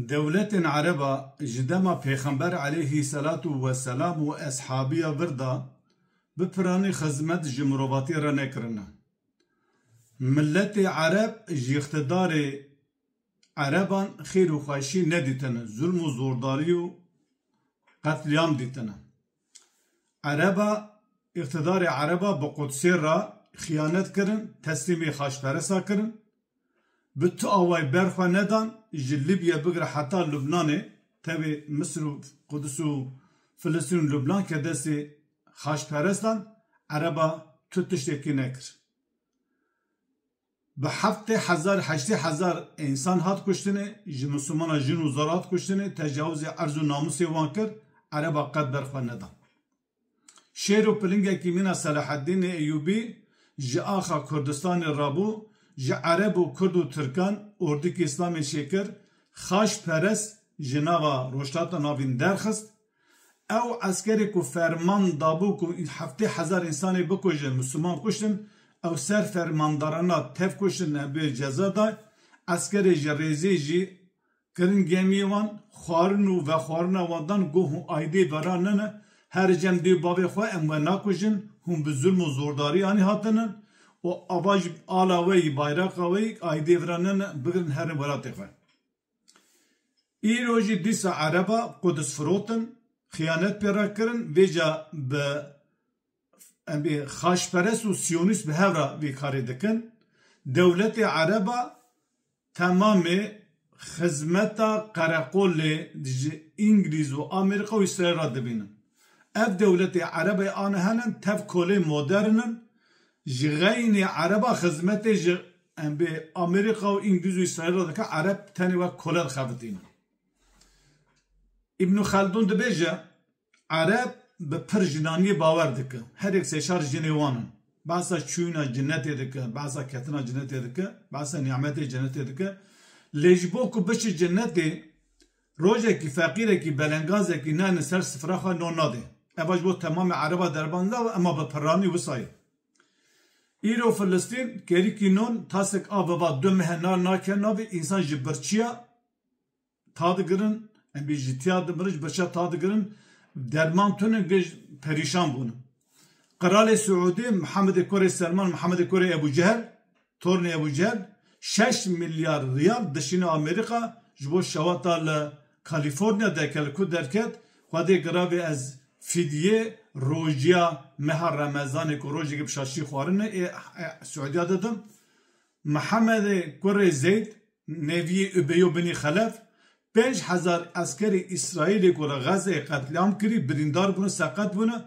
Dewletên Ereb a ji dema Pêxember eleyhî selatu we selam û eshabiya vir de bi piranî xizmet ji mirovatî re nekirine. Miletê Ereb ji îqtidarê Ereban xêr û xweşî nedîtine, zulm û zordarî û qetlîam dîtine. Ereba, îqtîdarê Ereba bi Qudsê re xiyanet kirin, teslîmê Xaçperesa kirin, bi tu awayî ber xwe nedan, ji Libye bigire heta Lubnanê, tevê Misir û Quds û Filistîn û Lubnan ke destê Xaçperestan, Ereba tu tiştekî nekir. Bi heftê hezar, heştê hezar însan hat kuştinê, ji Mislimanan jin û zor hat kuştinê, tecawizê erz û namûsê wan kir, Ereba qet ber xwe neda. Şêr û pilingekî mîna Selaheddînê Eyûbî ji axa Kurdistanê rabû, ji Ereb û Kurd û Tirkan ordikî Îslamê çêkir, xaçperest ji nava rojhilata navîn derxist, Ew eskerê ku ferman dabû ku heftê hezar însanê bikuje, mûsliman kuştin, ew ser fermandarana tevkuştin ne bi ceza da, eskerê ji rêzê jî kirin gemiyê wan, xwarin û vexwarina wan dan goh û aîdê vera nene, her cem dê û bavê xwe em we nakujin, hûn bi zulm û zordarî anî hatinin û ava jî ala we yî, bayraqa we yî, aîdê vera nene, bigirin herin welatê xwe. Îro jî dîsa ereba Qudis firotin, xiyanet pê re kirin, vê ca bi em bê xaçperest û siyonîst bi hev re vê karê dikin. Dewletê ereba temamê xizmeta qereqolê ji Îngilîz û Amerîka û Îsraîl re dibînin. Ev dewletê ereba yê anihenan tev kolê modern in, Ji xeynî ereba xizmetê ji embê Amerîka û Îngiliz û Îsraîl re dike, ereb tenê wek kole dixebitîne. Îbnû Xeldûn dibêje, Ereb bi pir jinaniyê bawer dike. Herêk sêçar jinê wan in. Behsa çûyina cinetê dike, behsa ketina cinetê dike, behsa nîametê cinetê dike. Lê ji bo ku biçe cinetê, Rojekî feqîrekî belengazekî ne li ser sifra xwe non nadê. Eva ji bo temamê ereba derban la û ema bi pirranî wisa ye. Îro Filistîn kerîkî non tasek a viva du mehe nar nake navê însan ji birçiya ta digirin em bê ji tiya dimirin ji birçiya ta digirin derman tune gê ji perîşan bûn. Qiralê Siûdê Mihemedê Korê Selman Mihemedê Korê Ebû Cehel Tornê Ebû Cehel şeş milyar riyal dişîne Amerîka ji bo şewata li Kalîforniya derke li ku derket Xwedê giravê ez fîdyê rojiya meha Remezanê ku rojekê bi şaşî xwarin e ê Siûdiya didim Mihemedê kurê Zeyd Neviyê Ubeyo Binî Xelef, Pênc hezar eskerê Îsraîlê ku li Xezzeyê qetlîam kirî, birîndar bûne, seqet bûne,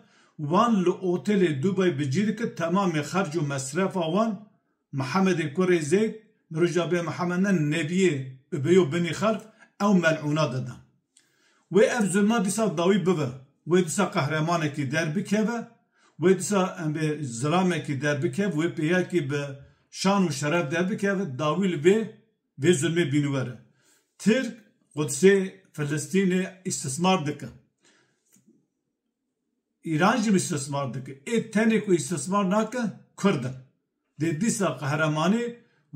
wan li otelê Dubay bi cî dike, temamê xerc û mesrefa wan Mihemedê kurê Zeyd, Mirojabê Mihemed ne, Neviyê Ubeyo Binî Xelf ew mel'ûna didan. Wê ev zilma dîsa dawî bibe, wê dîsa qehremanekî derbikeve, wê dîsa embê zilamekî derbikev, wê pêyakî bi şan û şeref derbikeve, dawî li vê vê zilmê bîniwer e. Tirk Qudsê Filistînê îstismar dike. Îran jî îstismar dike. Ê tenê ku îstismar nake Kurd in. Dê dîsa qehremanî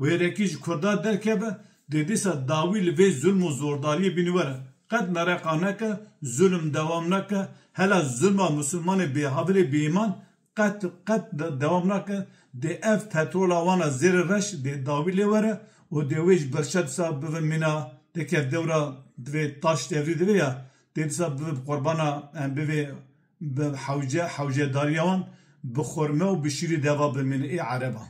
wêrekî ji Kurdan derkeve, dê dîsa dawî li vê zulm û zordariyê bînî were. Qet mereqa neke, zulm dewam nake, hela zulma misilmanê bêhavilê bêîman qet qet dewam nake, dê ev petrola wan a zêrê reş dê dawî lê were û dê wê ji berşa dîsa bibe mîna dikeve dewra divê taş devrî divê ya dê dîsa bibe bi qurbana em bivê Bi hewce hewce darîya wan bi xurme û bi şîrî deva bimîne ê ereban.